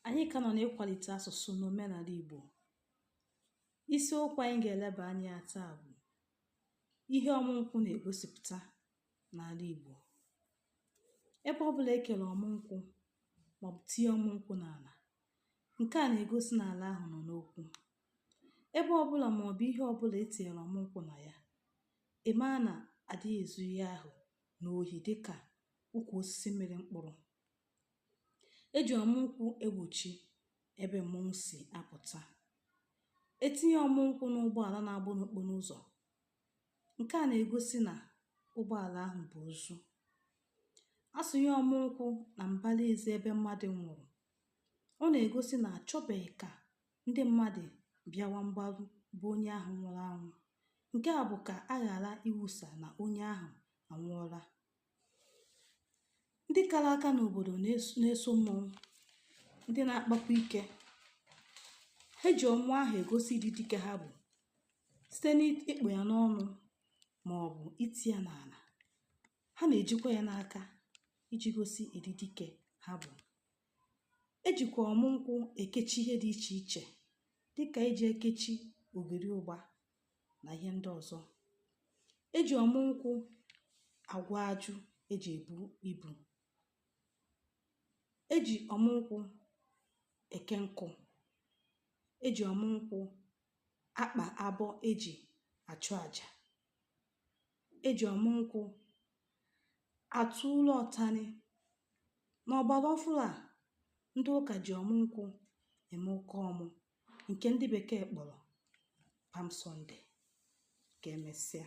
Anyị ka nọ n'ịkwalite asụsụ na omenala Igbo. Isiokwu anyị ga-eleba anya ya taa bụ ihe ọmụ nkwụ na-egosipụta n'ala Igbo. Ebe ọ bụla e kere ọmụ nkwụ maọbụ tinye ọmụ nkwụ n'ala, nke a na-egosi na ala ahụ nọ n'okwu. Ebe ọ bụla maọbụ ihe ọ bụla e tinyere ọmụ nkwụ na ya, ị maa na a dịghị ezu ihe ahụ n'ohi dịka ukwu osisi mịrị mkpụrụ. E ji ọmụ nkwụ egbochi ebe mmọnwụ si apụta. E tinye ọmụ nkwụ n'ụgbọala na-agba n'okporo ụzọ, nke a na-egosi na ụgbọala ahụ bu ozu. A sụnye ọmụ nkwụ na mbara ezi ebe mmadụ nwụrụ, ọ na-egosi na a chọbeghị ka ndị mmadụ bịawa mgbaru be onye ahụ nwụrụ anwụ. Nke a bụ ka a ghara ikwusa na onye ahụ anwụọla. ndị kara aka n'obodo na-eso mmọnwụ ndị na-akpakwa ike ha ji ọmụ ahụ egosi ịdị dike ha bụ site n'ịkpụ ya n'ọnụ ma ọ bụ iti ya n'ala ha na-ejikwa ya n'aka iji gosi ịdị dike ha bụ e jikwa ọmụ nkwụ ekechi ihe dị iche iche dịka e ji ekechi ogiri ụgba na ihe ndị ọzọ e ji ọmụ nkwụ agwọ ajụ e ji ebu ibu e ji ọmụ nkwụ eke nkụ e ji ọmụ nkwụ akpa abọ e ji achụ aja e ji ọmụ nkwụ atụ ụlọ ọtani n'ọgbara ọfụrụ a ndị ụka ji ọmụ nkwụ eme ụka ọmụ nke ndị bekee kpọrọ Palm Sunday ka emesịa